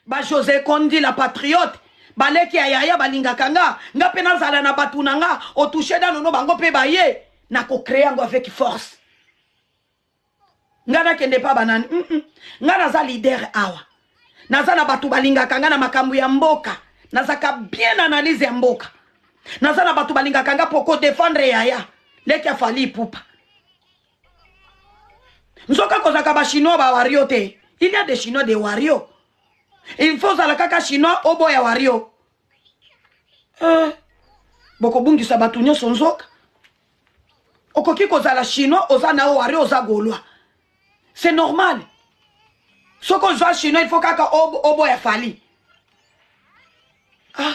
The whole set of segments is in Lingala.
ba jose kondi la patriote baleki ya yaya balingaka nga nga mpe nazala na bato na nga otouche danono bango mpe baye nakocree yango avec force nga nakende mpa banani mm -mm. nga naza leader awa naza na bato balingaka nga na makambo ya mboka nazaka bien analyse ya mboka naza na bato balingaka nga mpo kodefendre yaya leki afali ipupa nzoka kozalaka bachinois bawario te il y a des chinois de wario il faut ozala kaka chinois oboya wario eh, bokobungisa bato nyonso nzoka okoki kozala chinois oza na yo wario oza golwa c'est normal soki ozwa chinois il faut kaka oboya fali ah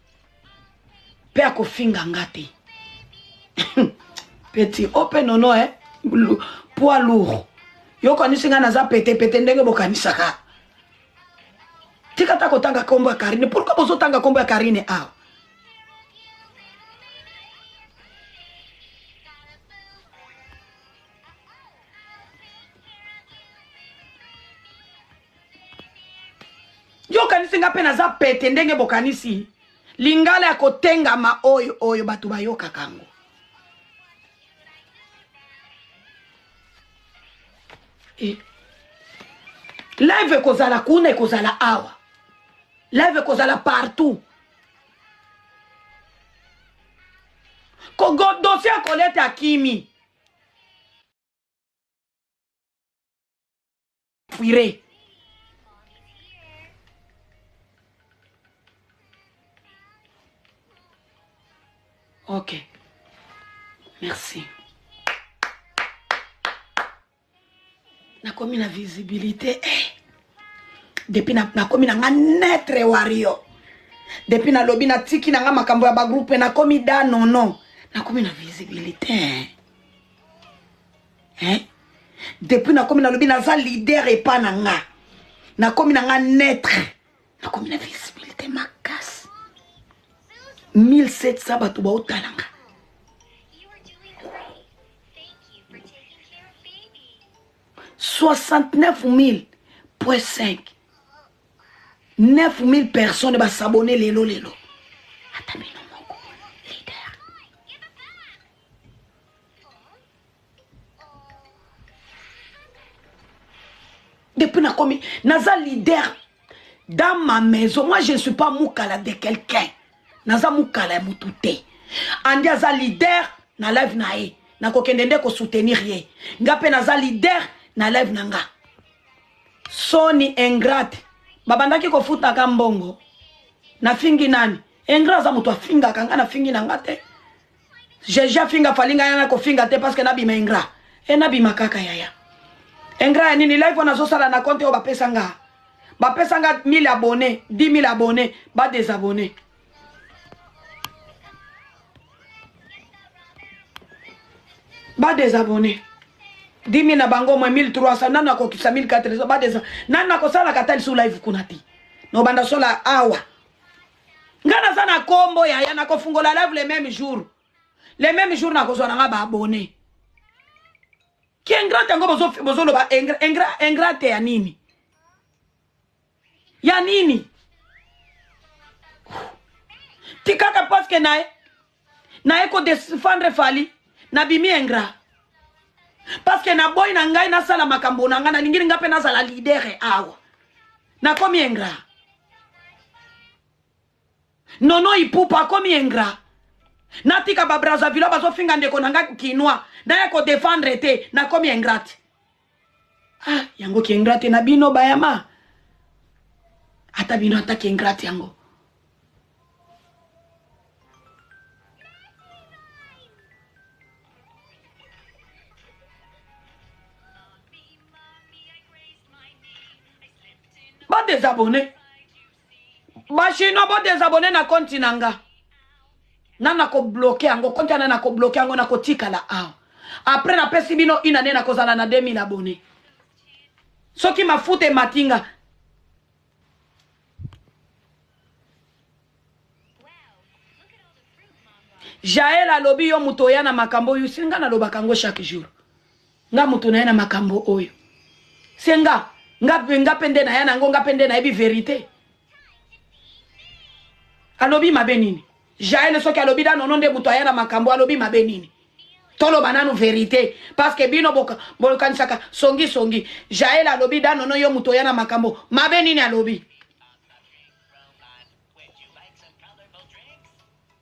mpe akofinga nga te petit o mpe nono eh? poids lourd yo okanisi ngai naza petepete ndenge bokanisaka tika ta kotanga nkombo ya karine pourkui bozotanga nkombo ya karine awa ah. yo okanisi nga mpe naza pete ndenge bokanisi lingala ya kotengama oyo oyo bato bayokaka yango eh. live ekozala kuna ekozala awa live ekozala partout dosie ya kolete akimi pwire ok merci nakomi na visibilité eh. depuis nakomi na, na nga netre wario depuis nalobi natiki na nga makambo ya bagroupe nakomi da nono nakomi na visibilité eh. hein? depuis nakomi nalobi naza leader epa na nga nakomi na nga netre nakomi na visibilité makasi 1700 bato baotala nga soixante-neuf mille point cinq neuf mille personnes basabone lelo lelo ata bino depuis nakomi naza leader dans ma maison moi je ne suis pas mukala de quelqu'un naza mukala ya mutu te andi aza leader na live na ye nakokende nde kosoutenir ye nga mpe naza leader na live na nga soni ingrate babandaki kofutaka mbongo nafingi nani ingrat aza moto afingaka nga nafingi na nga te Jeje afinga fali ngai na kofinga te parce que nabima ingra e nabima kaka yaya ingra ya nini live wana azosala na compte oyo bapesa nga bapesa nga 1000 abonne 10000 abonne ba desabonne ba desabonne 10000 na bango mwe 1300 nanu akokisa 1400 ba desa nanu nakosalaka ata lisu live kuna te nobanda sola awa nga naza na kombo yaya nakofungola live le même jour le même jour nakozwa na nga baabone ki ingrate yango bozoloba ingrate ya nini ya nini tikaka paske naye naye ko defendre fally nabimi ingrat parce que naboyi na ngai nasala makambo na ngai nalingili ngai mpe nazala lidere awa nakomi ingrat nono ipupa akomi ingrat natika babrazavilois bazofinga ndeko na ngai kinois naya kodefendre te nakomi ingrate ah yango ki ingrate na bino bayama ata bino ata ki ingrate yango ba desabonne Ba chinois bo desabonner na compte na nga. Na na ko bloquer yango compte na na ko bloquer yango na ko tikala awa. Après na pesi bino une année na kozala na 2000 abonnés. Soki mafuta ematinga jael alobi yo moto oya na makambo oyo senga nalobaka yango chaque jour Nga mutu naya na makambo oyo se nga nga pe nga pe nde naya na yango nga pe nde nayebi verite alobi mabe nini jael soki alobi da nono nde mutu aya na makambo alobi mabe nini toloba nanu verite parceke bino bokanisaka songi songi jael alobi da nono yo mutu oya na makambo mabe nini alobi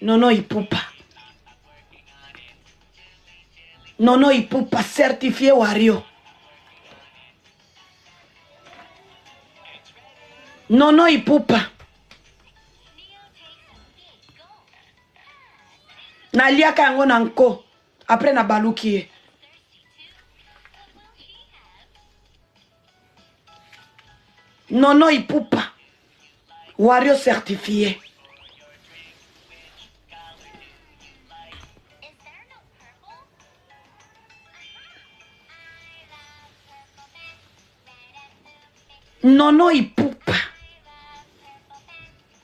Nono Ipupa. Nono Ipupa certifié Wario. Nono Ipupa. naliaka yango na nko apres nabaluki ye Nono Ipupa, Wario certifié. Nono Ipupa.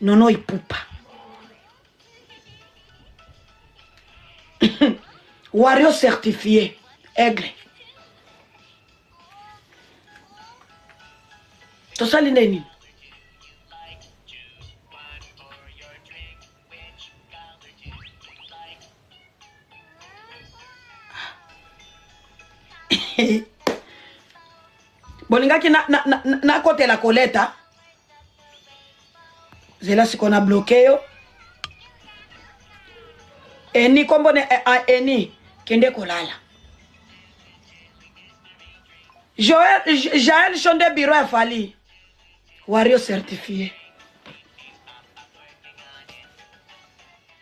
Nono Ipupa. Wario certifié. Aigle. tosali nde nini bolingaki na, na, na, na, na kotela koleta zela siko na bloke yo eni kombo ne eh, ah, eni kende kolala joel jael shonde biro ya fali wario certifie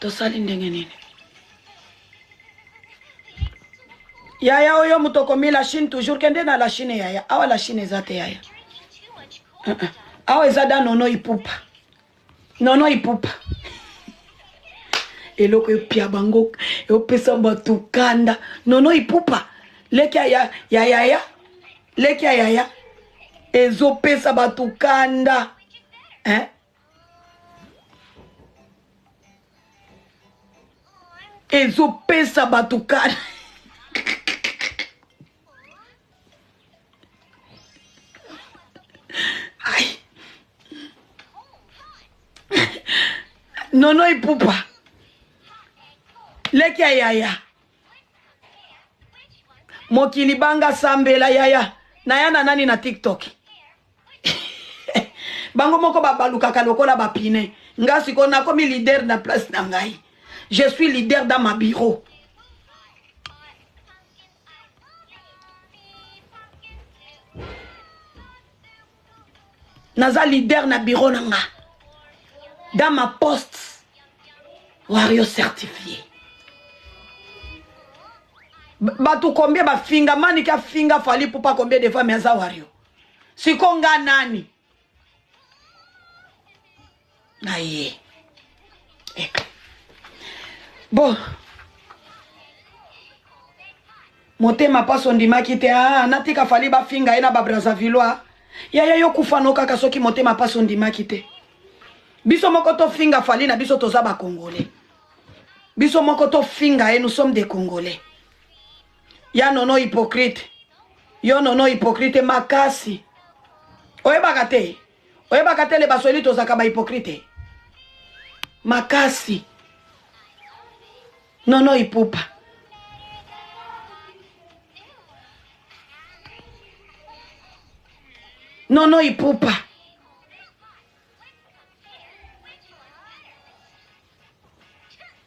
tosali ndenge nini yaya oyo moto okomi la chine toujours kende na la chine yaya awa la chine eza te yaya uh -uh. awa eza danono ipupa Non non ipupa eloko epia bango eopesa bato kanda nono ipupa leki ya ya yaya leki ya yaya ezopesa bato kanda hein? ezopesa bato kanda nono ipupa leki ya yaya mokili banga sambela yaya naya na nani na tiktok bango moko babalukaka lokola bapine nga sikoyo nakomi leader na place na ngai je suis leader dans ma bureau naza leader na bureau na nga dans ma poste wario certifié bato combien bafinga manike afinga fali pupa combien de fois me aza wario siko nga nani na ye eh. bon motema mpasi ondimaki te ah, natika fali bafinga ye na babrazavillois yaya yo kufano kaka soki motema mpasi ondimaki te biso moko tofinga fali na biso toza bakongole biso moko tofinga ye nous sommes des congolais ya nono hypocrite yo nono hypocrite makasi oyebaka te oyebaka te le basweli tozalaka bahypocrite makasi nono ipupa nono ipupa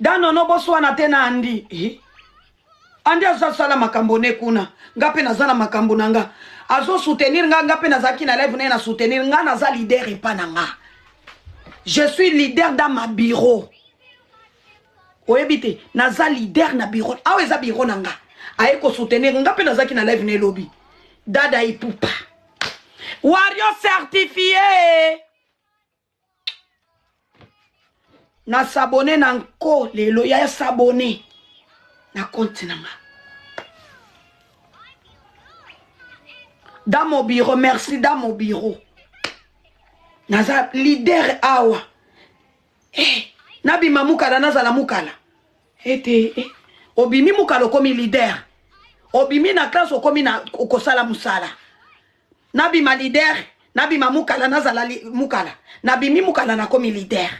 danono boswana te na andi eh. andi azasala makambo ne kuna nga mpe naza na makambo na nga azosoutenir nga nga mpe nazalaki na live naye na soutenir nga naza leader epa na nga je suis leader dans ma bureau oyebi te naza leader na bureau awa eza bureau na nga aye kosoutenir nga mpe nazalaki na live na elobi dada ipupa wario certifie na sabone na nko lelo ya sabone na konti na nga dans mon bureau merci dans mon bureau naza leader awa hey, eh, nabima mukala nazala mukala ete eh, obimi mukala okomi leader obimi na classe okomi na okosala mosala nabima leader nabima mukala nazala li, mukala nabimi mukala nakomi leader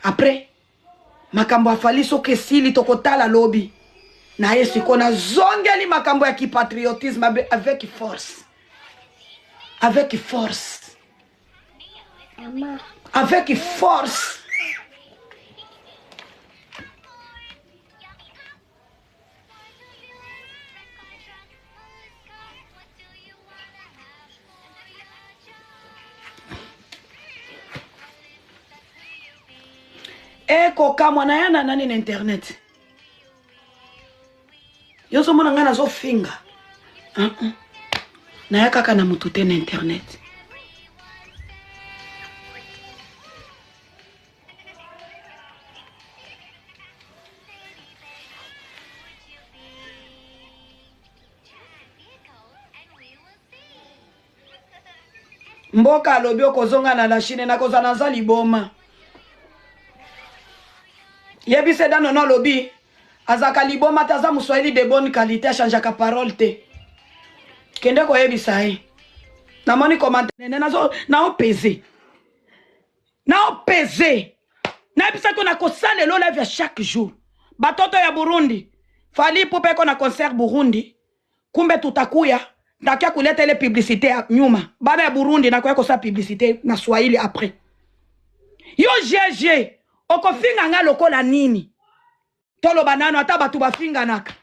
après makambo afali soki esili tokotala lobi na ye sikoyo nazongeli makambo ya kipatriotisme avec force avec force avec force ekokamwa na ya na nani na internet yo ozomona ngai nazofinga uh -uh. naya kaka na motu te na internet mboka alobi okozonga na la chine nakozala naza liboma yebisa eda nono alobi azalaka liboma te aza moswahili de bonne qualité achangeaka parole te kende koyebisa ye namoni komantanene naopeze naopeze nayebisa ko nakosala elo live ya chaque jour batoto ya burundi fali pupa eko na concert burundi kumbe tutakuya ndakia kuleta ile publicité ya nyuma bana ya burundi nakoya kosala publicité na swahili après yo gg okofinga ngai lokola nini toloba nano ata bato bafinganaka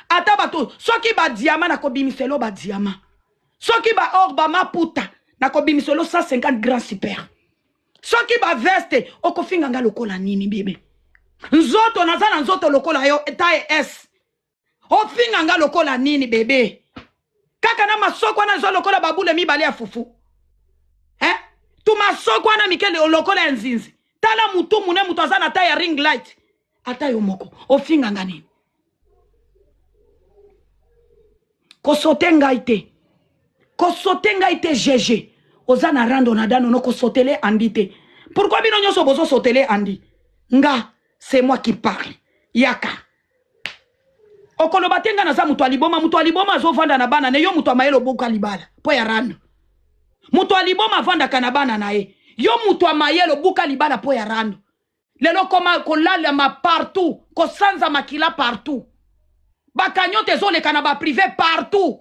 ata bato soki badiama nakobimiselo badiama soki baor bamaputa nakobimiselo 150 grand super soki baveste okofinga ngai lokola nini bebe nzoto naza na nzoto lokola yo taille s ofinga nga lokola nini bebe kaka na masoko wana eza lokola babule mibale ya fufu eh? tu masoko wana mike lokola ya nzinzi tala mutu mune moto aza na ta ya ring light ata yo moko ofinga nga nini kosote ngai te kosote ngai te gege oza na rando na danono kosotele andi te pourkui bino nyonso bozosotele andi nga c'est moi qui parle yaka okoloba te nga naza moto ya liboma moto ya liboma azovanda na bana na yo moto ya mayele obuka libala mpo ya rando moto ya liboma avandaka na bana na ye yo moto ya mayele obuka libala mpo ya rando lelo okoma kolalama partout kosanza makila partout bakanyote ezoleka na baprive partout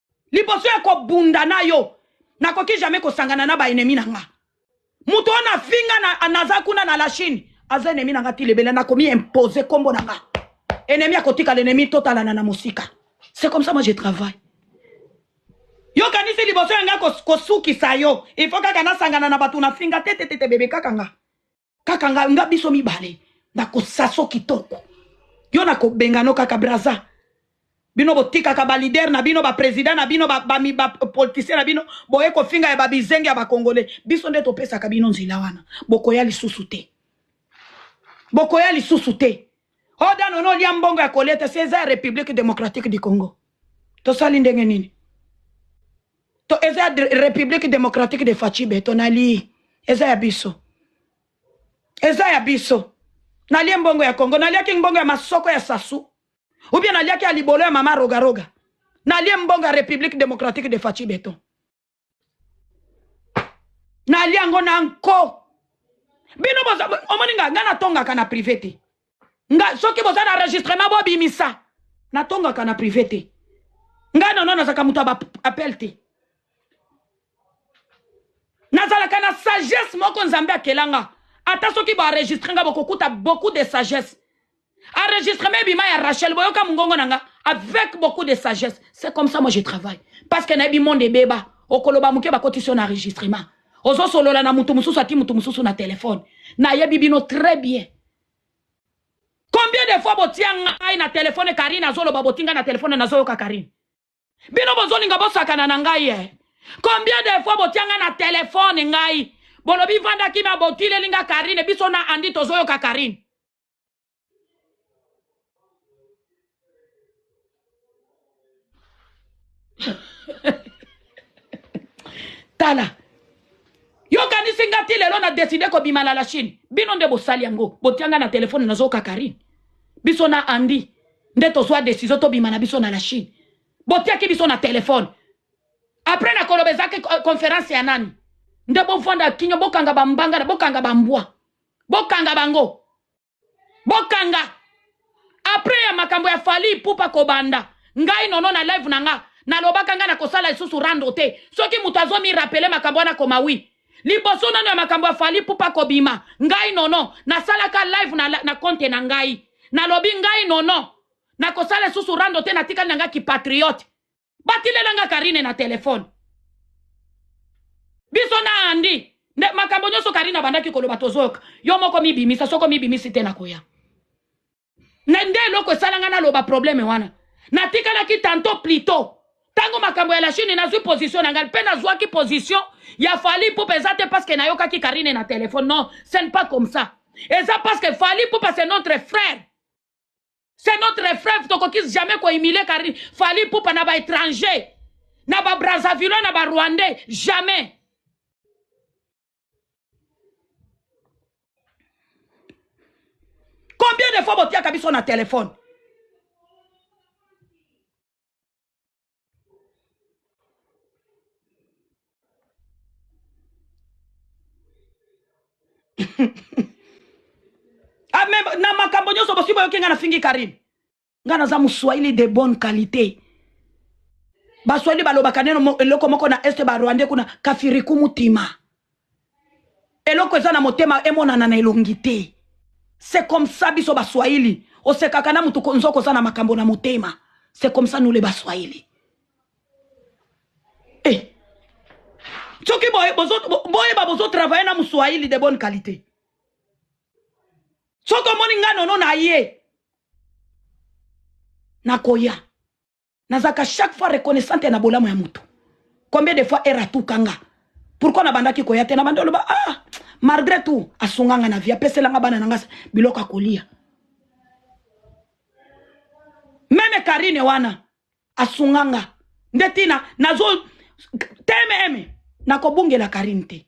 liboso ya kobunda na yo nakoki jamais kosangana na baennemi na nga moto oyo nafinga na, naza kuna na la chine aza ennemi na nga ti lebele nakomi impose nkombo na nga ennemi akotikala ennemi totalana na mosika c'est comme ça moi je travaille yokanisi liboso ya nga kosukisa yo il faut kaka nasangana na bato nafinga te te te te bebe kaka nga kaka nga, nga biso mibale nakosaso kitoko yo nakobengano kaka braza bino botikaka balider na bino bapresident na bino bapolitisien na bino boye kofinga ya babizenge ya bakongole biso nde topesaka bino nzela wana bokoya lisusu te bokoya lisusu te odano no olia mbongo ya koleta se eza ya république démocratique du congo tosali ndenge nini to eza republique democratique de faci beton nalii eza ya biso eza ya biso nalie mbongo ya congo naliaki mbongo ya masoko ya sasu ubie naliaki ya libolo ya mama rogaroga nalie mbongo ya république démocratique de faci beton nalie yango na nko bino omoni nga nga natongaka na privé te nga soki boza na enregistrement bobimisa natongaka na privé te ngai nono nazalaka moto ya baappel te nazalaka na sagesse moko nzambe akela nga ata soki boenregistre nga bokokuta beaucoup de sagesse enregistrement ebima ya rachel boyoka mongongo na nga avec beaucoup de sagesse c'est comme ça moi je travaille parce que nayebi monde ebeba okoloba moke bakotisi yo na enregistrement ozosolola na moto mosusu ati moto mosusu na telefone nayebi bino très bien Combien de fois botia ngai na telefone Karine azoloba boti ngai na telefone nazoyoka Karine. Bino bozolinga bosakana na ngai eh. Combien de fois botia ngai na telefone ngai bolobi vanda kimia botileli ngai Karine biso na Andy tozoyoka Karine. tala yokanisi nga ti lelo na deside kobima na la chine bino nde bosali yango botianga na telefone nazoka karine biso na andi nde tozwa desizio tobima na biso na la chine botiaki biso na telefone apres nakoloba ezaki konference ya nani nde bofanda kinyo bokanga bambanga na bokanga bambwa bokanga bango bokanga après ya makambo ya fali ipupa kobanda ngai nono na live na nga nalobaka ngai nakosala lisusu rando te soki moto azomi rapele makambo wana koma wi liboso nano ya makambo ya fali ipupa kobima ngai nono nasalaka live na, na konte na ngai nalobi ngai nono nakosala lisusu rando te natikali na ngai kipatriote batilela nga karine na telefone biso na andi nde makambo nyonso karine abandaki koloba tozoyoka yo moko mibimisa soko mibimisi te nakoya na nde eloko esala nga naloba probleme wana natikalaki tanto plito ntango makambo ya la chine nazwi position na ngai mpe nazwaki position ya fali pupa eza te parceke nayokaki karine na telefone non ce ne pas comme ça eza parceke fali pupa c'est notre frère C'est notre frère tokoki jamais ko humilier Carine Fally Ipupa na ba étrangers na ba Brazzavillois na ba Rwandais jamais Combien de fois botiaka biso na téléphone ah, mais na makambo nyonso bosi boyoki ngai nafingi karine ngai naza moswahili de bonne qualité baswahili balobaka neno eloko moko na este barwandais kuna kafiriku mutima Eloko eza na motema emonana na elongi te. C'est comme ça biso ba swahili osekaka na mutu nzoka oza na makambo na motema. C'est comme ça nous les ba swahili. Eh. Soki boye bozo boye ba bozo travailler na muswahili de bonne qualité. Soki omoni nga nono na ye nakoya. nazalaka chaque fois reconnaissante na bolamu ya moto combien de fois era atukanga pourkui nabandaki koya te nabandi oloba ah malgré tout asunga nga na vie apeselanga bana na nga biloko akolia meme karine wana asunga nga nde ntina nazo tmm nakobungela karine te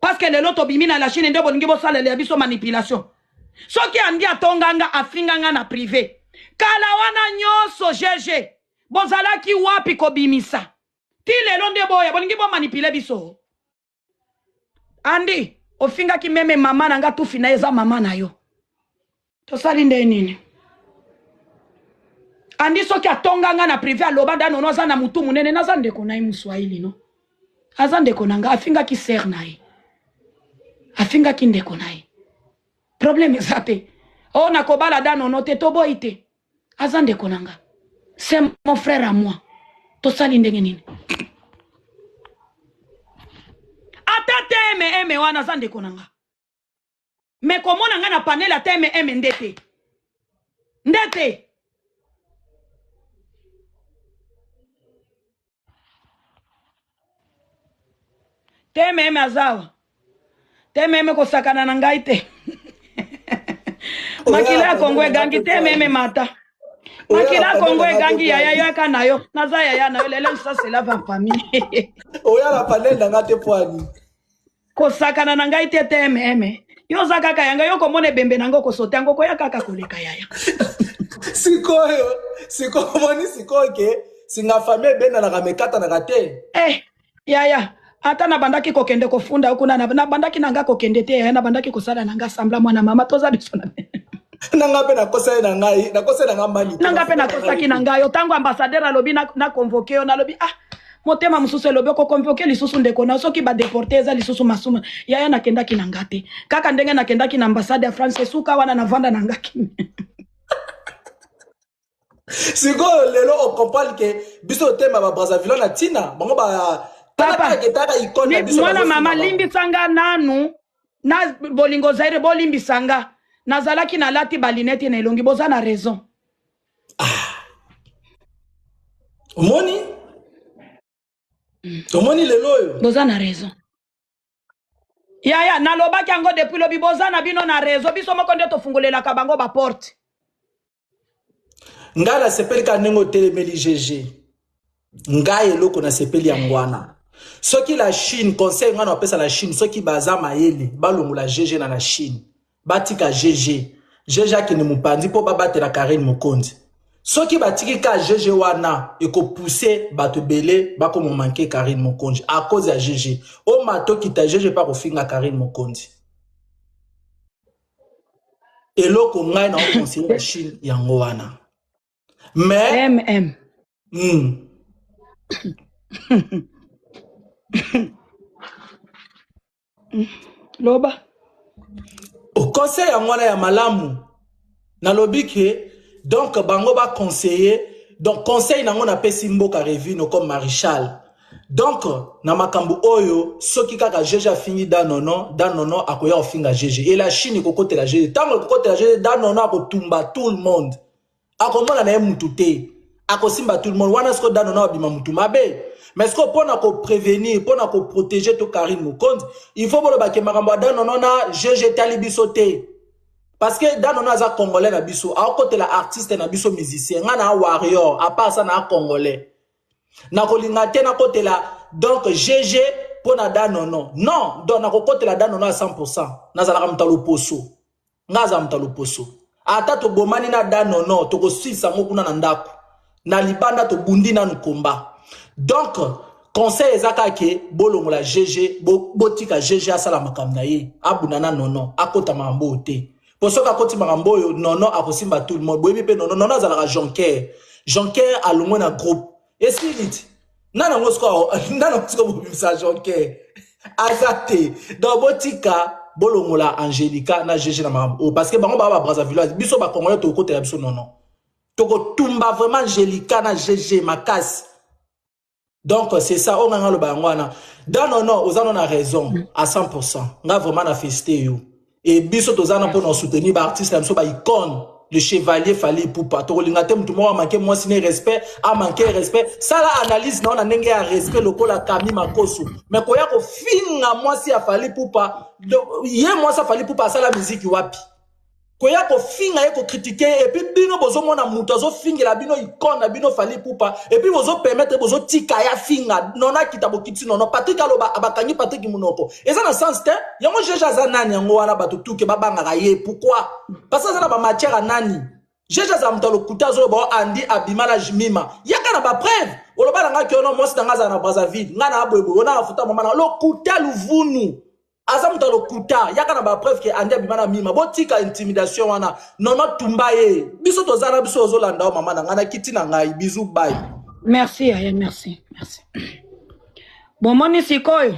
parce que lelo tobimi na la chine nde bolingi bosalela biso manipulation soki andi atonga nga afinga nga na prive kala wana nyonso gg bozalaki wapi kobimisa ti lelo nde boya bolingi bomanipule biso andi ofingaki meme mama na nga tufi na eza mama na yo tosali nde nini andi soki atonga nga na prive aloba da nono aza na motu monene naza ndeko na ye moswahili no aza ndeko na nga afingaki sere na ye afingaki ndeko na ye problème eza te o oh, nakobala da nono te toboyi te aza ndeko na nga c'est mon frère à moi tosali ndenge nini ata te eme eme wana aza ndeko na nga mais komona nga na panel ata mm nde te nde te te meme azawa te meme kosakana na ngai te makila ya kongo egangi te meme mata makila ya kongo egangi yaya yoyaka na yo naza yaya na yo lelo lisasela va famille oyala panel na nga te poani kosakana na ngai te te meme yo oza kaka yanga yo komona ebembe na yango kosote yango koya kaka koleka yaya sikoyo sikoyo omoni sikoyo ke singa fami ebendanaka mekatanaka te eh yaya ata nabandaki kokende kofunda yo kuna nabandaki na nga kokende te yaya nabandaki kosala na nga sambla mwana mama toza biso na nanga mpe nakosaki na ngai nakosaki na ngai mali nanga mpe nakosaki na ngai yo ntango ambassadeur alobi na convoke yo nalobi ah motema mosusu elobi okokompoke lisusu ndeko na soki badeporte eza lisusu masumu yaya nakendaki na nga te kaka ndenge nakendaki na ambassade ya france esuka wana navanda na nga kimi sikoyo lelo ocomprendre ke biso otema babrazavilo na ntina bango ba mwana mama limbisa nga nanu na bolingo zaire bolimbisa nga nazalaki nalati balinete na elongi boza na raison ah. omoni mm. omoni lelo oyo boza na raison yaya nalobaki yango depuis lobi boza na bino na rezo biso moko nde tofungolelaka bango baporte ngai nasepeli ka ndenge otelemeli gg ngai eloko nasepeli yango wana soki la chine conseil ngai napesa la chine soki baza mayele balongola gg na la chine batika gg gg akende mopanzi mpo babatela karine mokonzi soki batiki ka gg wana ekopuse bato ebele bakoma manke karine mokonzi a cause ya gg omato kita gg mpe akofinga karine mokonzi eloko ngai na okonseye la chine yango wana mais mm. Mm. loba conseil yango wana ya malamu nalobi ke donc bango baconseille donc conseil nango napesi mboka revino comme marichal donc na makambo oyo soki kaka jeje afingi danono danono akoya kofinga jeje e la chine ekokotela jeje ntango ekokotela jeje danono akotumba tout le monde akomona na ye mutu te akosimba tout le monde wana siko dano na abima mutu mabe mais siko mpo na koprevenir mpo na koprotege to karine mokonzi il faut boloba ke makambo ya dano na gg etali biso te parce que dano na aza congolais na biso aokotela artiste na biso musicien ngai na warrior apart sa na congolais nakolinga te nakotela donc gg mpo na danono non donc nakokotela danono ya 100 pourcent nazalaka moto ya loposo Nga aza moto ya loposo. Ata tobomani na da nono tokosilisa yango kuna na ndako. Na libanda tobundi nanu combat. Donc conseil eza kaka ke bolongola GG botika GG asala makambo na ye abunda na nono akota makambo oyo te. Po soki akoti makambo oyo nono akosimba tout le monde. Boyebi pe nono nono azalaka jonker. Jonker alongwe na groupe. esiliti nana ngo sikoyo nana ngo sikoyo bobimisa jonker aza te donc botika bolongola angelica na gg na makambo oyo parce que bango baa babrazavilloise biso bakongole tokokotela biso nono tokotumba vraiment angelica na gg makasi donc c'est ça oyo ngai naloba yango wana danono oza no na raison à 100 nga vraiment na félicité yo et biso toza na pona soutenir ba artistes na biso ba icône le chevalier Fally Ipupa tokolinga te mutu moko amanke mwasi ne respect amanke respect sala analyse na ona ndenge ya respect lokola Kami Makosu me koya kofinga mwasi ya Fally Ipupa ye mwasi ya Fally Ipupa asala miziki wapi koya kofinga ye kokritike ye epuis bino bozomona moto azofingela bino ikone na bino fali pupa epuis bozopermetre bozotika ye afinga nono akita bokiti nono patrik aloba bakangi patrik monoko eza na sens te yango jeje aza nani yango wana bato tuke babangaka ye pourkoi parce aza na bamatière ya nani jeje aza moto ya lokuta azoloba o andi abima na jmima yaka na bapreuve oloba na ngai kiono mwasi na ngai azala na brazzaville ngai na aboyeboye ona afuta mama na lokuta luvunu aza moto ya lokuta yaka na bapreuve ke andi abima na mima botika intimidation wana nono tumba ye biso toza na biso ozolanda yo mama na ngai na kiti na ngai bizu bai merci yaya merci merci bomoni sikoyo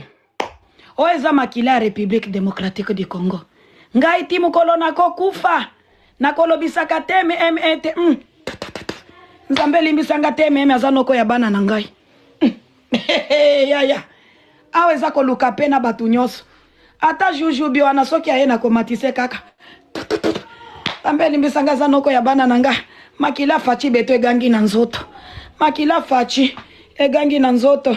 oyo eza makila ya Republique Democratique du Congo. Ngai ti mokolo nakokufa nakolobisaka te mm te mm. Nzambe limbisanga te mm aza noko ya bana na ngai mm. yaya awa eza koluka mpe na bato nyonso ata jujubi wana soki aye nakomatise kaka Nzambe elimbisanga aza noko ya bana na nga makila faci beto egangi na nzoto makila faci egangi na nzoto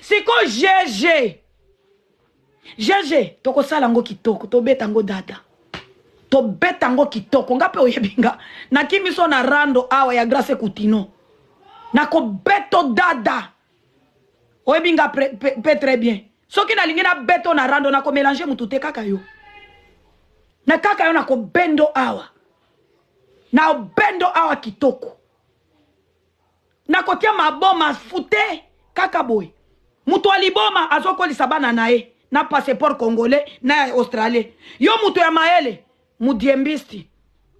siko gg gg tokosala yango kitoko tobeta yango dada tobeta yango kitoko nga mpe oyebi nga nakimi so na rando awa ya grace kutino nakobeto dada oyebi nga mpe très bien soki nalingi nabeto na rando nakomelange motu te kaka yo na kaka yo nakobendo awa na obendo awa kitoko na kotia maboma fute kaka boye moto ya liboma azokolisa bana na ye na passeport congolais na ya australien yo moto ya mayele mudiembisti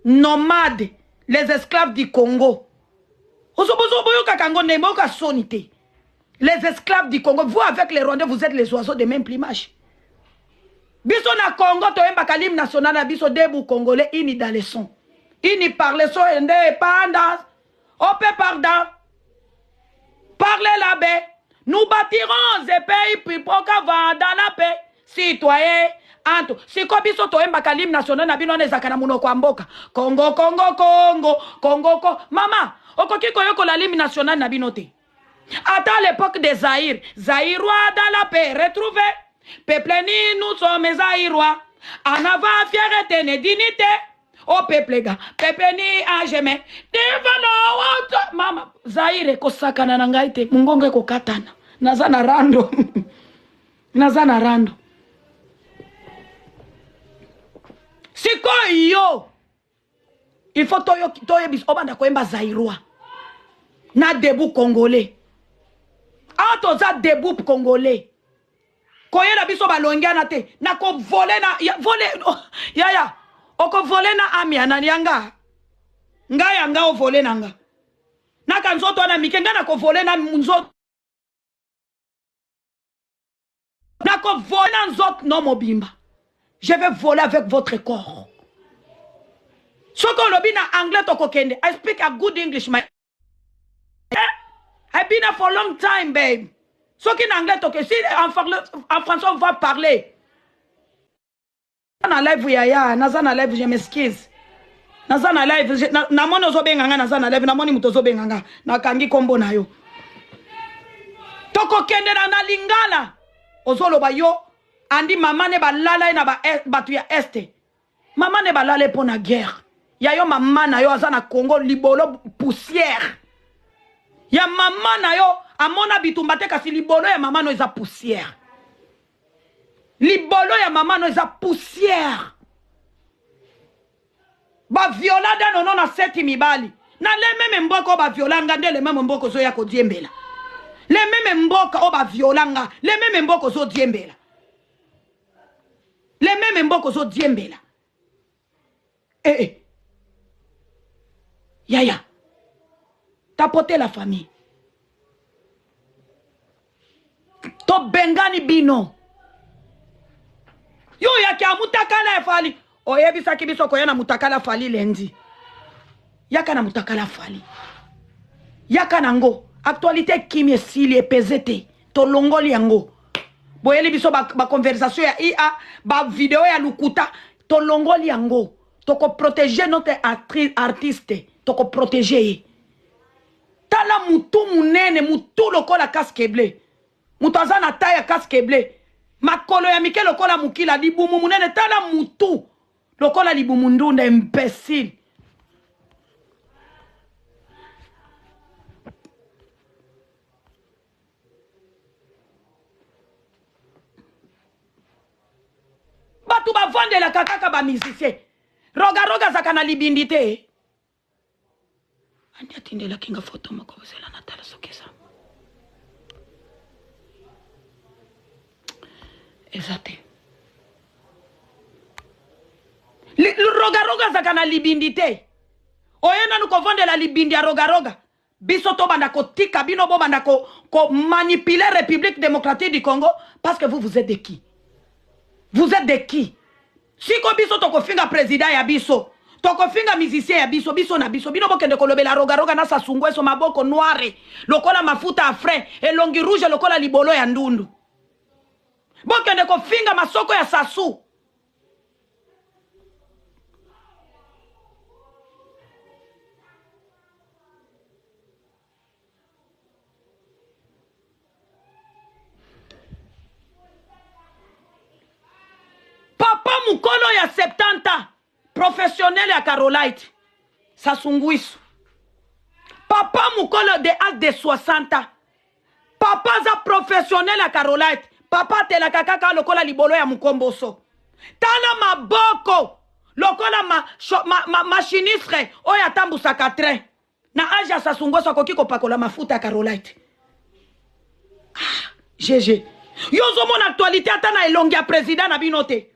nomade les esclaves du congo boyokaka yango ndenge boyoka soni te les esclaves du congo vous avec les rwandais vous êtes les oiseaux de même plumage biso na congo toyembaka lime national na biso debu congolais ini daleson ini parleso ende epanda OP pardon. Parlez la baie. Nous bâtirons ce pays pipoka vanda na pe citoyen anto siko biso toyembaka lime national na bino wana ezalaka na monoko ya mboka kongo kongo kongo kongo ko mama okoki koyokola lime national na bino te Ata à l'époque de Zaïre, Zaïrois dans la paix retrouvé. Peuple ni nous sommes Zaïrois. En avant fierté et dignité. Au oh, peuple ga, peuple ni a jamais. Devant autre mama Zaïre ko sakana na ngai te, mungongo ko katana. Naza na rando. Naza na rando. Sikoyo il faut toyebisa obanda koyemba zairois na debout congolais awa ah, toza debout congolais koyela biso balongiana te nakovole na ya, vole oh, yaya okovole na ami ya nani ya nga nga ya nga ovole na nga naka nzoto wana mike nga nakovole na nzoto nako vole na nzot no mobimba je vais voler avec votre corps soki olobi na anglais tokokende i speak a good english my eh? i been there for long time babe soki na anglais toke si en, en français on va parler na live yaya naza na live je m'excuse naza na live namoni ozobenga nga naza na live namoni moto ozobenga nga nakangi nkombo na yo tokokendela na lingala ozoloba yo andi mama ne balala ye na e, bato ya este mama ne balala ye mpo na guerre ya yo mama na yo aza na congo libolo poussière ya mama na yo amona bitumba te kasi libolo ya mama no eza poussière libolo ya mama no eza poussière baviola dano no na seti mibali na le meme mboka oyo baviola nga nde le meme mboka ozoya kodiembela le meme mboka oyo baviola nga le meme mboka ozodiembela le meme mboka ozodiembela eh, eh. yaya tapote la famille tobengani bino yo oyaki amutakala ya fali oyebisaki biso koya na mutakala fali lendi yaka na mutakala fali yaka nango actualité ekimi esili epeze te tolongoli yango boyeli biso baconversation ba ya ia bavideo ya lukuta tolongoli yango tokoprotege notre artiste tokoprotege ye tala mutu munene mutu lokola casque bleu moto aza na ta ya casque bleu makolo ya mike lokola mokila libumu monene tala mutu lokola libumu ndunda imbecile bato bavandelaka kaka bamusicien rogaroga azaka na libindi te andi atindelaki nga foto moko ozela na tala soki eza eza te rogaroga azaka na libindi te oye nanu kovandela libindi ya rogaroga Biso to banda ko tika bino bo banda ko ko manipuler Republique Democratique du Congo parce que vous vous êtes de qui? Vous êtes de qui? Siko biso to ko finga president ya biso. tokofinga musicien ya biso biso na biso bino bokende kolobela rogaroga na sasungueso maboko noire lokola mafuta ya frais elongi rouge lokola libolo ya ndundu bokende kofinga masoko ya sasu papa mokolo ya 70 ans professionnel ya carolite sasunguisu papa mokolo de age de 60 ans papa aza professionnel ya carolite papa atelaka kaka lokola libolo ya mokomboso tala maboko lokola ma, ma, ma, machinistre oyo atambusaka train na age ya sasungoso akoki kopakola mafuta ya carolite ah, gg yo ozomona actualité ata na elongi ya président na bino te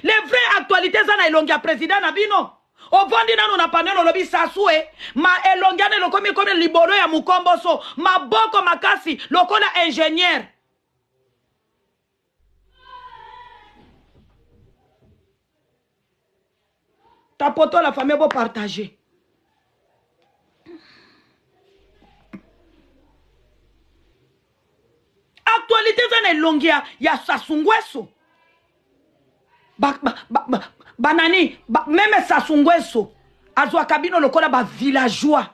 Le vrai actualite eza na elongi ya president na bino ovandi nano na panel olobi sasue ma elongi ana elokomi ekomi libolo ya mokomboso maboko makasi lokola ingenieur tapoto la famille bo partager actualité eza na elongi ya, ya sasungweso banani ba, ba, ba, ba, ba, meme sasungweso azwaka bino lokola bavillageois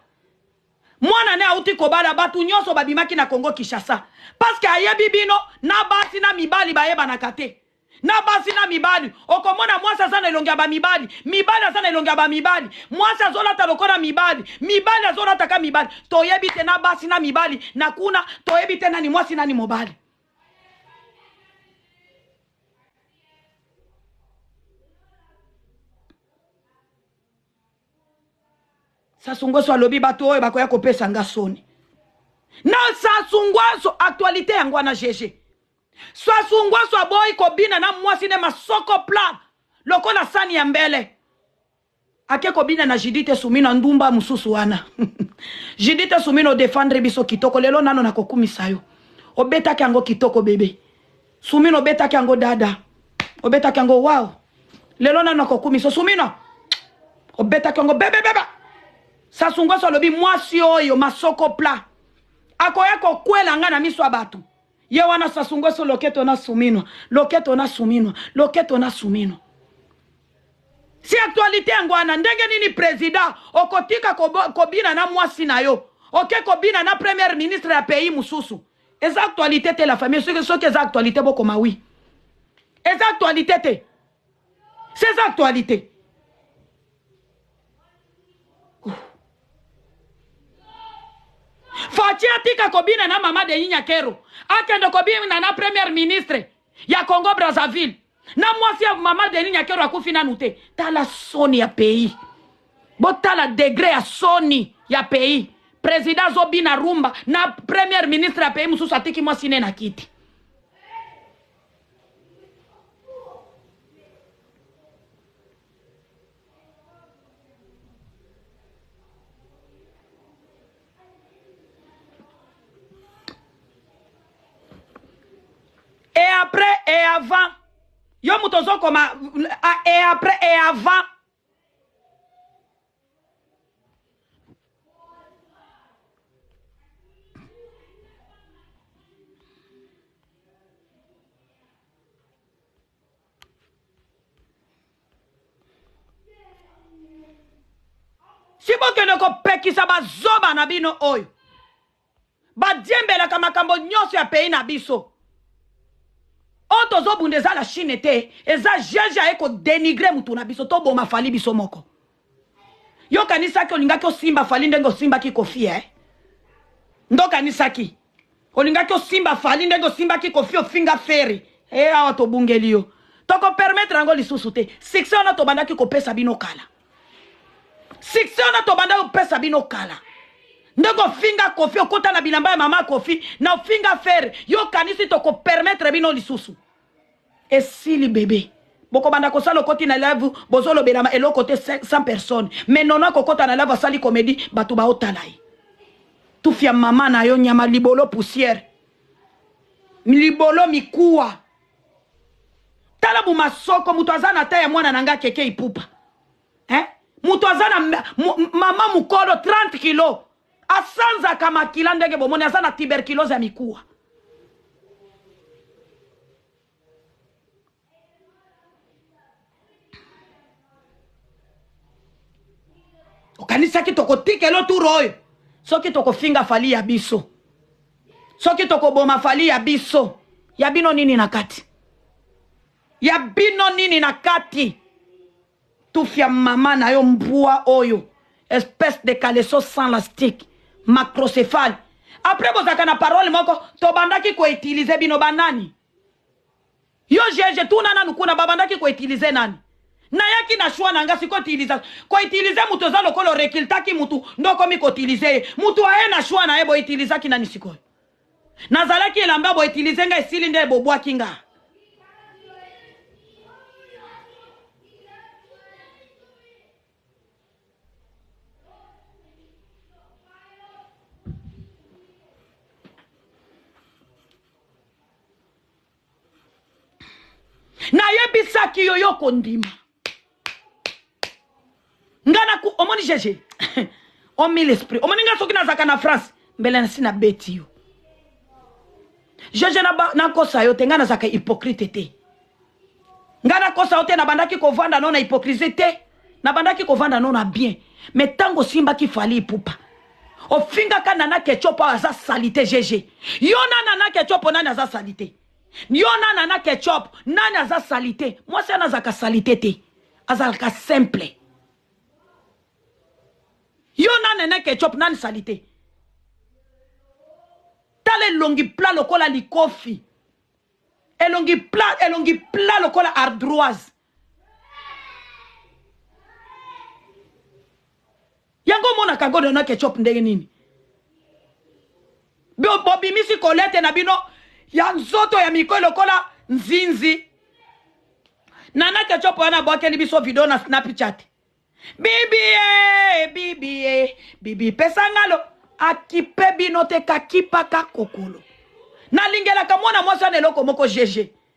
mwana ne auti kobala bato nyonso babimaki na congo kinshasa parceke ayebi bino na basi na mibali bayebanaka te na basi na mibali okomona mwasi aza na elongi ya bamibali mibali aza na elongi ya bamibali mwasi azolata lokola mibali mibali azolataka mibali toyebi te na basi na mibali na kuna toyebi te nani mwasi nani mobali sasungweso alobi bato oyo bakoya kopesa nga soni na sasungweso aktualite yango wana gege Swasu ngwasu aboyi kobina na mwasi ne masoko plat lokola sani ya mbele ake kobina na Judith Sumino ndumba mususu wana Judith Sumino defendre biso kitoko lelo nano nakokumisa yo obetaki yango kitoko bebe Sumino obetaki yango dada obetaki yango wow lelo nano nakokumisa Sumino obetaki yango bebe bebe Sasungoso alobi mwasi oyo masoko plat akoya kokwela nga na miso ya bato ye wana Sassou Nguesso loketo na suminwa loketo na suminwa loketo na suminwa si actualité yango wana ndenge nini président okotika kobina na mwasi na yo oke okay, kobina na première ministre ya pays mosusu eza actualité te la famille soki soki eza actualité bokoma wi eza actualité te c'est actualité faci atika kobina na mama de yinya kero akende kobina na première ministre ya congo brazzaville na mwasi ya mama de yinya kero akufi nanu te tala soni ya pays botala degre ya soni ya pays président azobina rumba na première ministre ya pays mosusu atiki mwasi ne na kiti et avant yo moto ozokoma et après et avant si bokende kopekisa bazoba na bino oyo Ba diembelaka makambo nionso ya pays na biso. Oyo tozo bunda eza la chine te, eza JJ aye ko denigrer mutu na biso, to boma Fally biso moko. Yo kanisaki olingaki osimba Fally ndenge osimbaki Koffi eh? Ndo kanisaki olingaki osimba Fally ndenge osimbaki Koffi ofinga Ferre eh, awa tobungeli yo. Toko permettre yango lisusu te. Succès wana tobandaki kopesa bino kala. succès wana tobanda kopesa bino kala ndenge ofinga kofi okota na bilamba ya mama kofi na ofinga fere yo okanisi tokopermetre bino lisusu esili bebe bokobanda kosala okoti na live bozolobelama eloko te 100 personne mais nono akokota na live asali komedi bato baotala ye tufia mama na yo nyama libolo poussière libolo mikuwa tala mu masoko moto aza na ta ya mwana na nga keke ipupa eh? moto aza na mama mokolo 30 kilo asanzaka makila ndenge bomoni aza na tuberculose ya mikuwa okanisaki tokotikela oturo oyo soki tokofinga fali ya biso soki tokoboma fali ya biso ya bino nini na kati ya bino nini na kati tufia mama na yo mbwa oyo espèce de caleso sans lastique macrocephale après bozalaka na parole moko tobandaki koutilize bino banani Yo Jeje tuna nanu kuna ba bandaki ko utiliser nani? Nayaki na choix na nga sikoyo utilisa ko utiliser mutu eza lokola o recrutaki mutu nde okomi ko utiliser ye. Mutu aye na choix naye bo utilisaki nani sikoyo? Nazalaki elamba bo utiliser nga esili nde bo bwaki nga. nayebisaki yo yo kondima nga na omoni jeje omi l'esprit omoni nga soki nazalaka na france mbele nasi nabeti yo jeje nakosa yo te nga nazalaka hypocrite te nga nakosa yo te nabandaki kovanda no na hypocrisie te nabandaki kovanda no na bien me ntango osimbaki fali ipupa ofingaka nana kecopo aza salite gg yo na nana kecopo nani aza salite yo na nana kecopo nani aza salite mwasi wana azalaka salite te azalaka simple yo na nana kecopo nani salite tala elongi pla lokola likofi elongi pla elongi pla lokola ardoise yango omonaka godo na ketchup ndenge nini bobimisi kolete na bino ya nzoto ya mikoi lokola nzinzi nana ketchup wana abwakeli biso video na snapchat bibie bibie bibi pesangalo akipe bino te kakipaka kokolo nalingelaka mwana mwasi wana eloko moko gg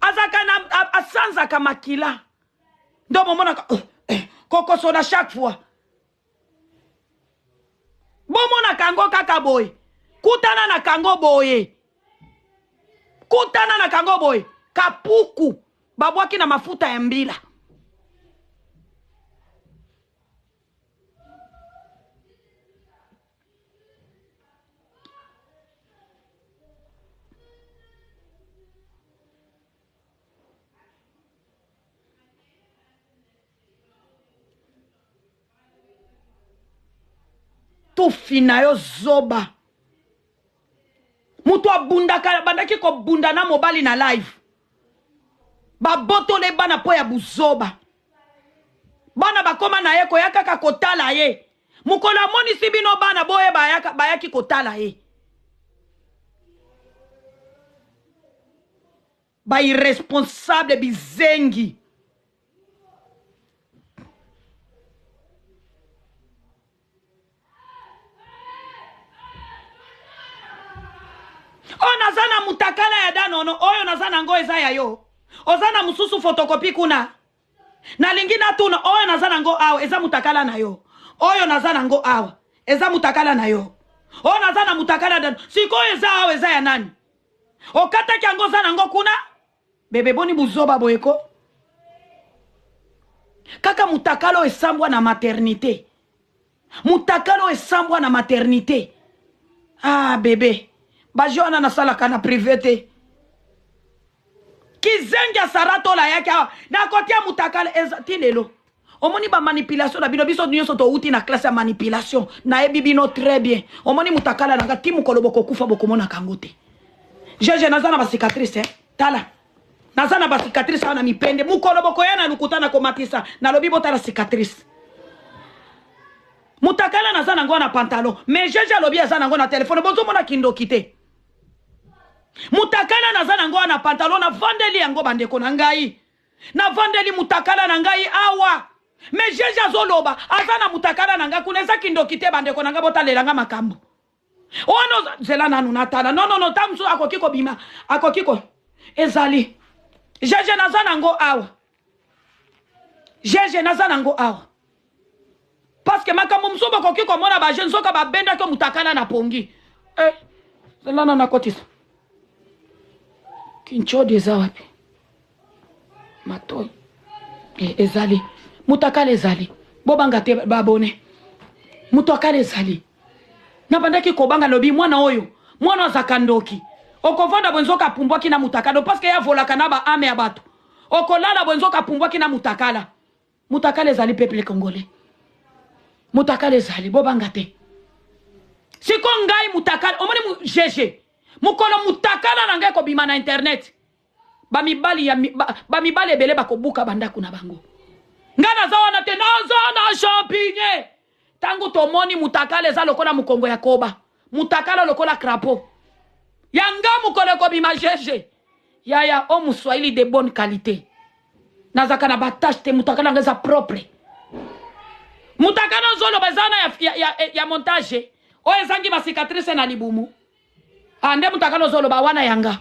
azalaka na asanzaka makila ndo bomonaka eh, eh, kokoso na chaque fois bomonaka yango kaka boye kutana na kango boye kutana na kango boye kapuku babwaki na mafuta ya mbila tufi na yo zoba moto abundaka abandaki kobunda na mobali na live babotole bana mpo ya buzoba bana bakoma na ye koya kaka kotala ye mokolo amonisi bino bana boye bayaka, bayaki kotala ye bairresponsable bizengi oyo naza na mutakala ya danono oyo naza na ngo eza ya yo oza na mosusu fotokopi kuna nalingi natuna oyo naza na ngo awa eza mutakala na yo oyo naza na ngo awa eza mutakala na yo oyo naza na mutakala ya danono sikoyo eza awa eza ya nani okataki yango oza na ngo kuna Bebe boni buzoba boye ko. Kaka mutakalo esambwa na maternite. Mutakalo esambwa na maternite. Ah bebe. Bajo wana nasalaka na prive te. Kizengi ya Sarah Tola yaki awa. Nakotia mutakalo eza ti lelo. omoni ba manipulation na bino biso nyonso towuti na classe ya manipulation nayebi bino très bien omoni mutakala na nga ti mokolo bokokufa bokomonaka yango te jeje naza na bacicatrice eh? tala naza na bacicatrice awa na mipende mokolo bokoya na lokuta na komatisa nalobi botala cicatrice mutakala naza nango na pantalon mais jeje alobi aza nango na telefone bozomona kindoki te mutakala naza nango na pantalon navandeli yango bandeko na ngai navandeli mutakala na ngai awa mais jeje azoloba aza na mutakala na ngai kuna eza kindoki te bandeko na ngai botalela ngai makambo ono oh, zela nanu natala nonono ntango mosusu akoki kobima akoki ko ezali jeje naza nango awa jeje naza nango awa parce que makambo mosusu bokoki komona ba jeune soka babendaki omutakala na pongi eh, zelana nakotisa kinchodi eza wapi matoi eh, ezali mutakala ezali bobanga te babone mutakala ezali nabandaki kobanga lobi mwana oyo mwana azaka ndoki okovanda bwe nzoka apumbwaki na mutakala parce que yavolaka na baame ya bato okolala bwe nzoka apumbwaki na mutakala Mutakala ezali peuple congolais. Mutakala ezali bobanga te. Siko ngai mutakala omoni mu GG mukolo mutakala na ngai kobima na internet bamibali ya bamibali ebele bakobuka bandako na bango. Ngai naza wana te naza na champignon. Tangu tomoni mutakala eza lokola mukongo ya koba mutakala lokola crapaud ya nga mukolo ekobima jeje yaya o muswahili de bonne qualité nazaka na batache te mutakala yanga eza propre mutakala ozoloba eza na ya, ya, ya, ya montage oyo ezangi basicatrice na libumu Ah, nde mutakala ozoloba wana yanga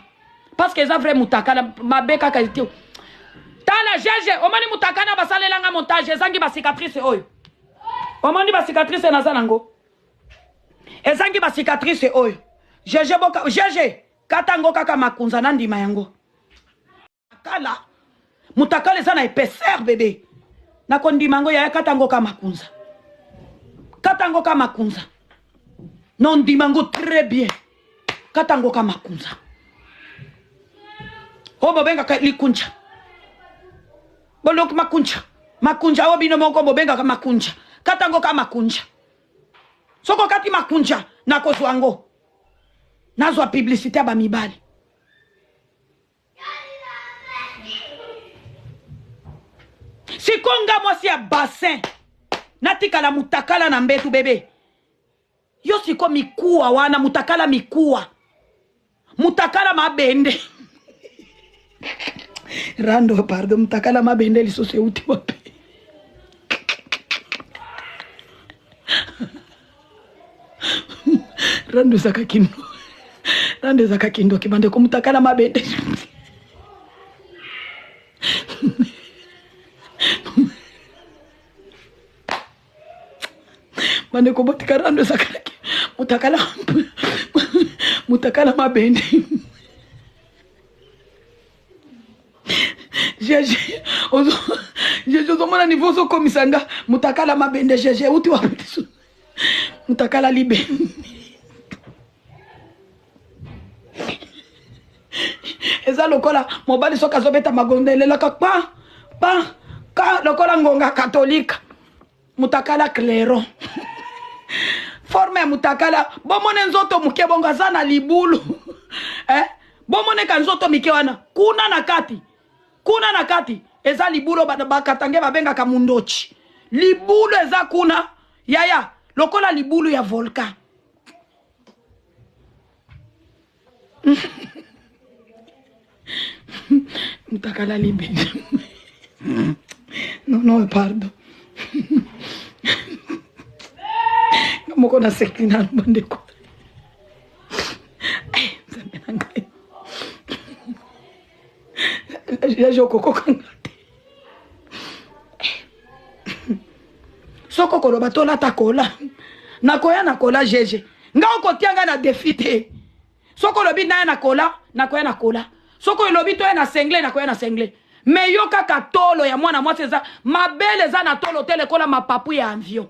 parce que eza vrai mutakala mabe kaka te tala jeje omoni mutakana basalela nga montage ezangi bacicatrice oyo omoni bacicatrice naza nango ezangi bacicatrice oyo jeje boka jeje kata yango kaka makunza nandima yango kala mutakala eza na epaisseur bebe nakondima yango yaya kata yango ka makunza kata yango ka makunza nondima yango très bien kata yango ka makunza oyo bobengaka likunja bolok makunja makunja oyo bino moko bobengaka makunja kata yango ka makunja soki okati makunja nakozwa yango nazwa publicité ya bamibali siko nga mwasi ya bassin natikala mutakala na mbetu bebe yo siko mikuwa wana mutakala mikuwa mutakala mabende rando pardon mutakala mabende lisusu euti wapi rando ezaka kindo rando ezaka kindoki bande komutakala mabe te bande kobotika rando ezaka mutakala mutakala mabende jeje ozomona nivo ozokomisa nga mutakala mabende jeje uti wapisu mutakala libe eza lokola mobali soki azobeta magondo elelaka pa pa ka lokola ngonga katolika mutakala clairon forme ya mutakala bomone nzoto moke bongo aza na libulu eh? bomone ka nzoto mike wana kuna na kati kuna na kati eza libulu bakatange babengaka mundochi libulu eza kuna yaya lokola libulu ya volcan mutakala libe non non pardon nga moko nasekli nanu bandeko eh, nzambe na ngai yaje okokokanga soko koloba tolata kola nakoya na kola jeje nga okotia nga na defi te soko olobi naya na kola nakoya na kola soko olobi toya na sengle nakoya na sengle me yo kaka tolo ya mwana mwasi eza mabele eza na tolo te lekola mapapu ya avion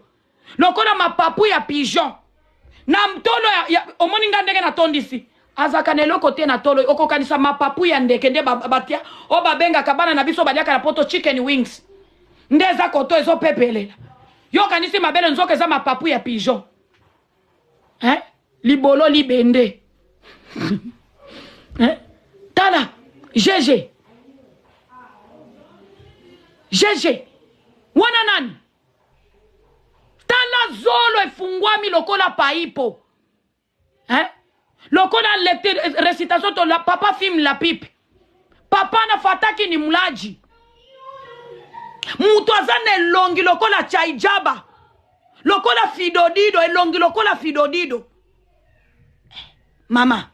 lokola mapapu ya pigeon na mtolo ya, ya, omoni nga ndenge natondisi azalaka na eloko te na tolo okokanisa mapapu ya ndeke nde batia oyo babengaka bana na biso baliaka na poto chicken wings nde eza koto ezopepelela yo okanisi mabele nzoka eza mapapu ya pigeon eh? libolo libende eh? tala jeje jeje wana nani tala zolo efungwami lokola paipo hein? lokola recitation to la papa film la pipe papa na fataki ni mulaji moto aza na elongi lokola chaijaba lokola fidodido elongi lokola fidodido mama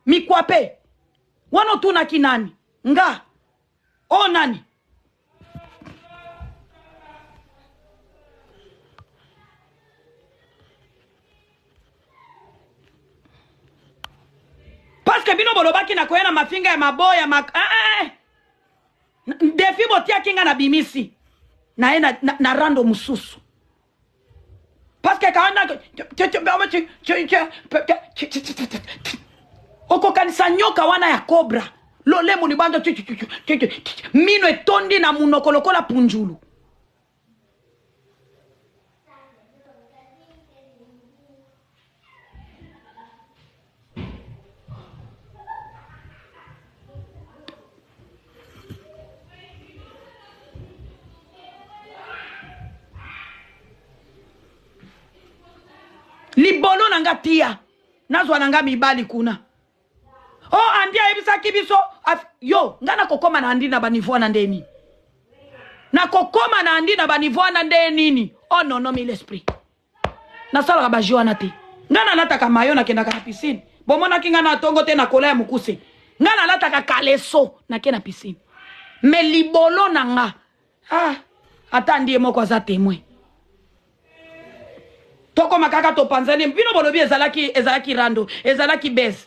mikwape wana otunaki nani nga o oh, nani parceke bino bolobaki na koya na mafinga ya maboya ma... ah, ah, ah. defi botiaki nga na bimisi naye na, na, na rando mosusu Parce que quand on a... okokanisa nyoka wana ya cobra lolemu libanda mino etondi na munoko lokola punjulu libono na nga tia nazwa na nga mibali kuna o oh, andi ayebisaki biso yo ngai nakokoma na andi na banivo wana nde nini nakokoma na andi na banivo wana nde nini o oh, nono mil esprit nasalaka baje wana te ngai nalataka mayo nakendaka na piscine bomonaki ngai na tongo te na kola ya mokuse ngai nalataka kaleso nake na piscine me libolo na nga ah, ata ndiye moko aza temoin tokoma kaka topanzani bino bolobi ezalaki ezalaki rando ezalaki bese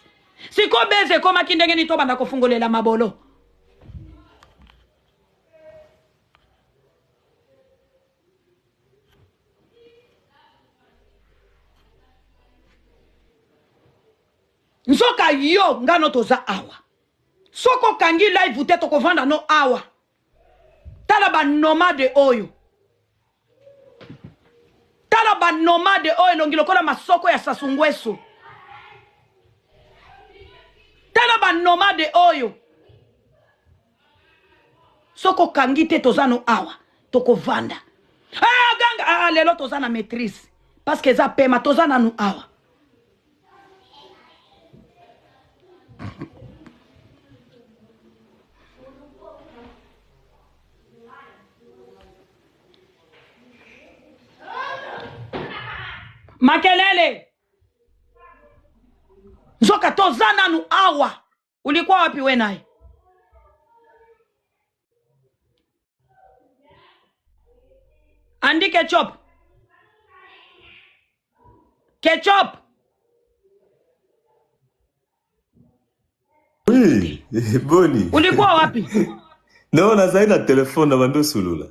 sikoyo bese ekomaki ndenge nini tobanda kofungolela mabolo nzoka yo nga no toza awa soki okangi live te tokovanda no awa tala banomade oyo tala banomade oyo elongi lokola masoko ya sasungweso tala banomade oyo soki okangi te toza no awa tokovanda ah, ganga ah, ah, lelo toza na maîtrise parce que eza pema toza nanu awa makelele nzoka toza nanu awa ulikuwa wapi we naye andi ketchup ketchup oui boni ulikuwa wapi no nazali na telefone na bandi osolola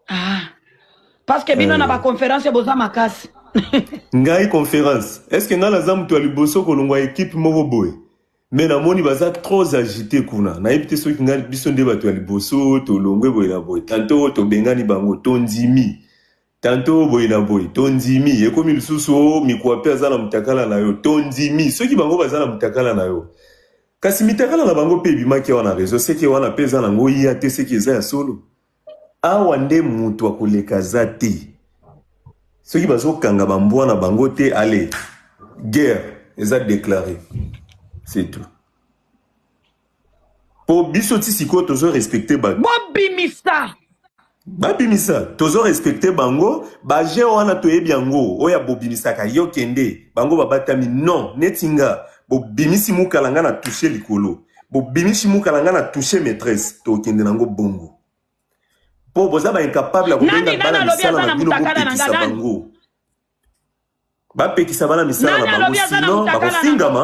ah. parce que bino eh. na baconférence boza makasi ngai conférence est ce que ngai naza moto ya liboso kolongwa ekipe moko boye me namoni baza trop agité kuna nayebi te soki ngai biso nde bato ya liboso tolongwe boye na boye tanto oyo tobengani bango tondimi Tantot boye na boye to ndimi ekomi lisusu o oh, mikuwa mpe aza na mutakala na yo to ndimi soki bango baza na mutakala na yo kasi mitakala na bango mpe ebimaki awa na rezo seke wana mpe eza nango ya te seke eza ya solo awa nde moto akoleka aza te soki bazokanga bambwa na bango te ale guerre eza deklare c'est tout po biso ti sikoyo tozo respecte bato bobimisa babimisa tozo respecte bango baje wana toyebi yango oyo abobimisaka yo kende bango babatami non neti nga bobimisi mukala nga na touche likolo bobimisi mukala nga na touche maîtresse tokende nango bongo po boza ba incapable ya kobenga bana misala na bino bopekisa bango bapekisa bana misala na bango sino bakofingama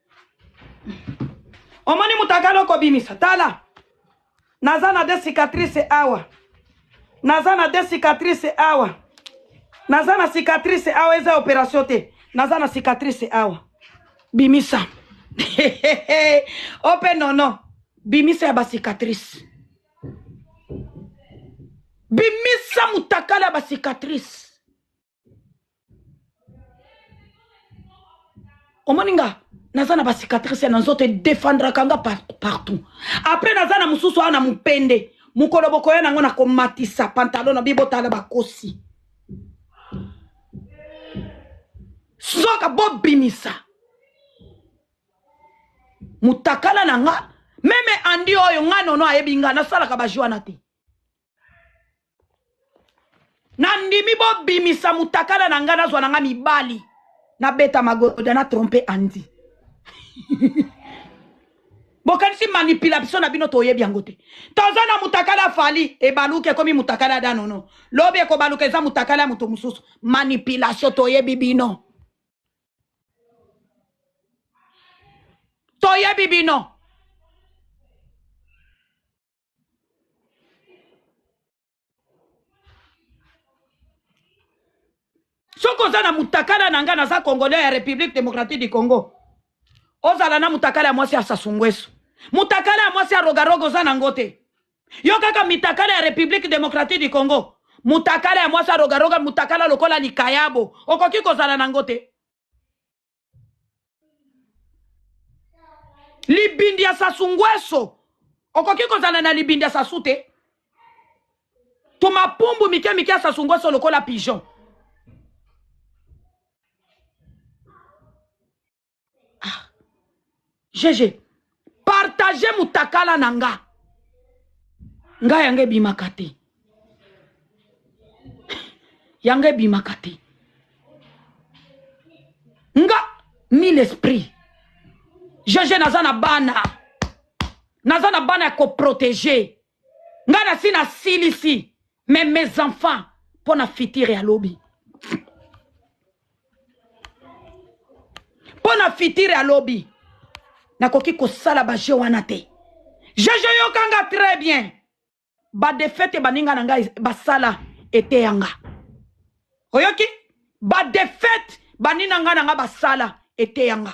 omoni moto akali okobimisa tala naza na de cicatrice awa naza na de cicatrice awa naza na cicatrice awa eza operation te naza na cicatrice awa bimisa ope nono bimisa ya bacicatrice bimisa motakala ya bacicatrice omoni nga naza na bacicatrice na nzoto edefendraka nga partout apres naza na mosusu awa na mopende mokolo bokoya nango nakomatisa pantalo na bi botala bakosi soka bobimisa mutakala na nga meme andi oyo nga nono ayebi nga nasalaka bajwana te nandimi bobimisa mutakala na ngai nazwa na ngai mibali nabeta magoda na trompe andi bokanisi manipulation na bino toyebi yango te toza na mutakala fali ebaluka ekomi mutakala ya danono lobi ekobaluka eza mutakala ya moto mosusu manipulation toyebi bino toyebi bino soki oza na mutakala na ngai naza congolais ya république démocratique du congo ozala na mutakala ya mwasi ya sasungwesu mutakala ya mwasi ya rogaroga oza na ngo te yo kaka mitakala ya république démocratique du congo mutakala ya mwasi ya rogaroga mutakala lokola likayabo okoki kozala na ngo te libindi ya sasu ngweso okoki kozala na libindi ya sasu te tumapumbu mike mike ya sasu ngweso lokola pigeon jeje partage mutakala na nga nga yango ebimaka te yango ebimaka te nga mille esprit jeje naza na bana naza na bana ya koprotege nga na si na silisi mais mes enfants mpo na futur ya lobi mpo na futur ya lobi nakoki kosala bajeu wana te jeje yokanga très bien badefete baninga na ngai basala eteya nga oyoki badefete banina nga na nga basala eteya nga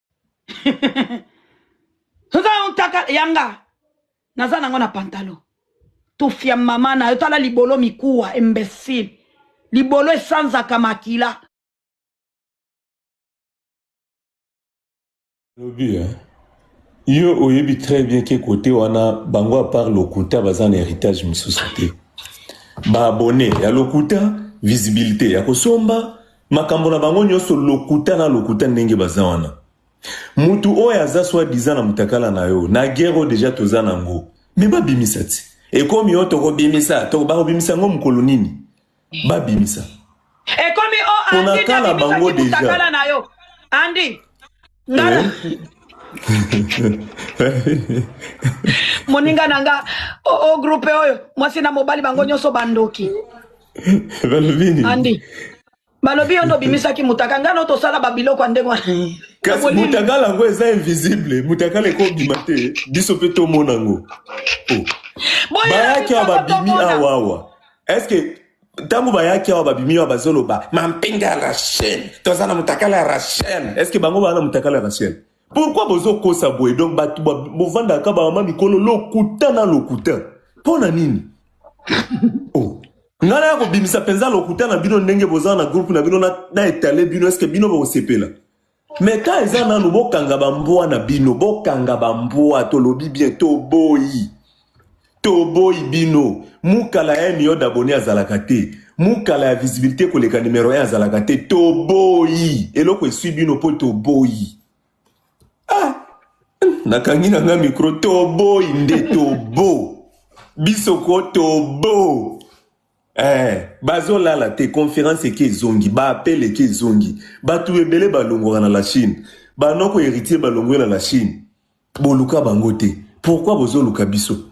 oza yo ntaka yanga naza nango na pantalon tufia mama na yo tala libolo mikuwa imbecile libolo esanzaka makila lobi eh? yo oyebi très bien ke kote wana bango apart lokuta baza na héritage mosusu te baabone ya lokuta visibilité ya kosomba Makambo na bango nioso lokuta na lokuta ndenge baza wana. Mutu oyo aza soit disant na mutakala na yo na guerre oyo dejà toza na ngo mais ba bimisa tse. Ekomi oh toko bimisa toko bako bimisa ngo mukolo nini? Ba bimisa. Ekomi oh Andy na bimisa ki mutakala na yo. Andy. ngala moninga na nga o, o groupe oyo mwasi na mobali bango nyonso bandoki balobi nini andi balobi yo nde obimisaki mutaka ngai no tosala babiloko ya ndenge wana kasi Bolili. mutakala yango eza invisible mutakala ekobima te biso mpe tomona yango Oh. Boyela bayaki awa biso babimi tomona. awa awa eske Tango bayaki awa babimi awa bazoloba mampinga ya Rachel, toza na mutakala ya Rachel. Est-ce que bango baza na mutakala ya Rachel? Pourquoi bozokosa boye? Donc batu bovandaka kaka ba mama mikolo lokuta na lokuta. Pona nini? Oh. Nga naya kobimisa penza lokuta na bino ndenge boza na groupe na bino na etale bino est-ce que bino bokosepela? Mais temps eza nanu bokanga ba mbwa na bino bokanga ba mbwa tolobi bien toboyi toboyi bino mukala ya million d'abonne azalaka te mukala ya visibilité koleka numero 1 azalaka te toboyi eloko esui bino mpo toboyi ah nakangi na nga micro toboyi nde tobo biso ko tobo Eh, bazolala te conference eke ezongi ba appel eke ezongi batu ebele balongwaka na la chine banoko heritier balongwe na la chine boluka bango te pourquoi bozoluka biso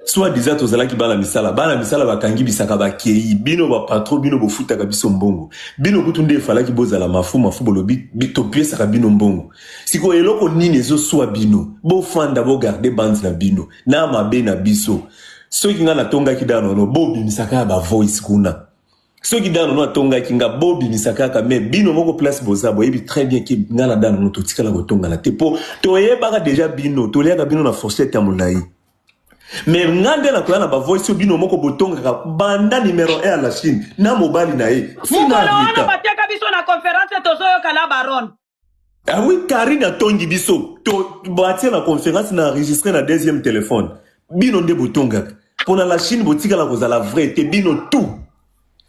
soit disant tozalaki bana misala bana misala bakangi bisaka bakei bino bapatro bino bofutaka biso mbongo bino kutu nde efalaki bozala mafu mafu bolobi topesaka bino mbongo sikoyo eloko nini ezoswa bino bofanda bogarde bande na bino na mabe na biso soki nga natongaki danono bobimisa kaka bavoice kuna soki danono atongaki nga bobimisa kaka me bino moko place boza boyebi très bien ke nga na danono totikala kotongana te mpo toyebaka deja bino toliaka bino na fourchette ya molai me nga nde nakoya na bavoice oyo bino moko botongaka banda numero 1 ya la chine na mobali na ye mokolo wana bateka biso na conference tozoyoka la baronne Ah oui, Karine atongi biso. To batia na conférence na enregistré na deuxième téléphone. Bino nde botongaka. Pona la Chine botikala kozala vrai te bino tout.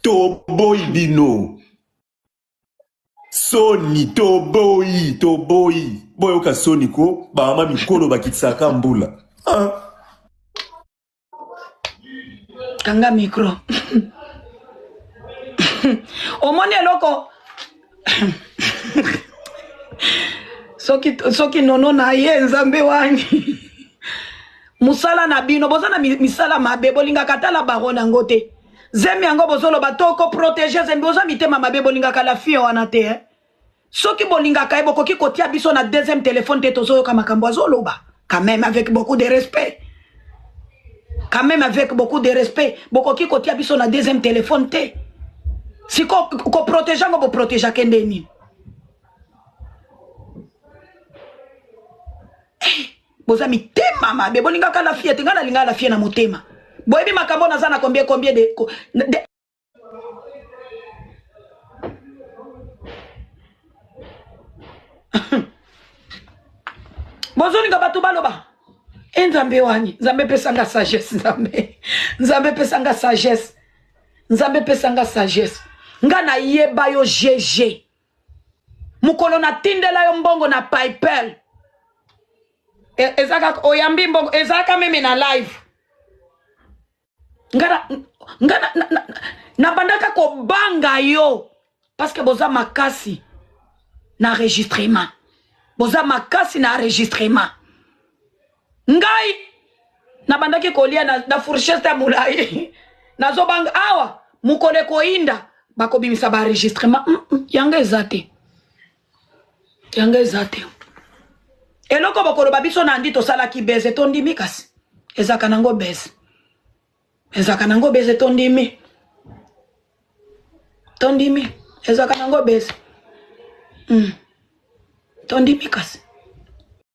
Toboyi bino. Soni toboyi toboyi. Boyoka soni ko ba mama mikolo bakitisaka mbula. Ah. kanga micro omoni eloko soki, soki nono na ye nzambe wani mosala na bino boza na misala mabe bolingaka tala bango nango te zemi yango bozoloba to koprotege zemi boza mitema mabe bolingaka la fille wana te eh? soki bolingaka ye bokoki kotia biso na deuxième téléphone te tozoyoka makambo azoloba quand même avec beaucoup de respect quand même avec beaucoup de respect bokoki kotia biso na deuxième téléphone te siko koprotege yango boprotege ake nde nini eh, boza mitema mabe bolingaka lafie te ngai nalingaka lafie na motema boyebi makambo naza na combien combien de, de bozolinga bato baloba e nzambe wani nzambe epesanga sagesse nzambe nzambe epesanga sagesse nzambe epesanga sagesse nga nayeba yo gg mokolo natindela yo mbongo na paypal e, ezaka oyambi mbongo ezalaka meme na live nga nga na, na, na, na bandaka kobanga yo parce que boza makasi na enregistrement boza makasi na enregistrement ngai nabandaki kolia na, na fourcheste ya molai nazobanga awa mokolo ekoyinda bakobimisa baenregistrement mm, mm, yango eza te yanga eza te eloko bokoloba biso na andi tosalaki beze tondimi kasi ezaka nango beze ezaka nango beze tondimi tondimi ezaka nango beze mm. tondimi kasi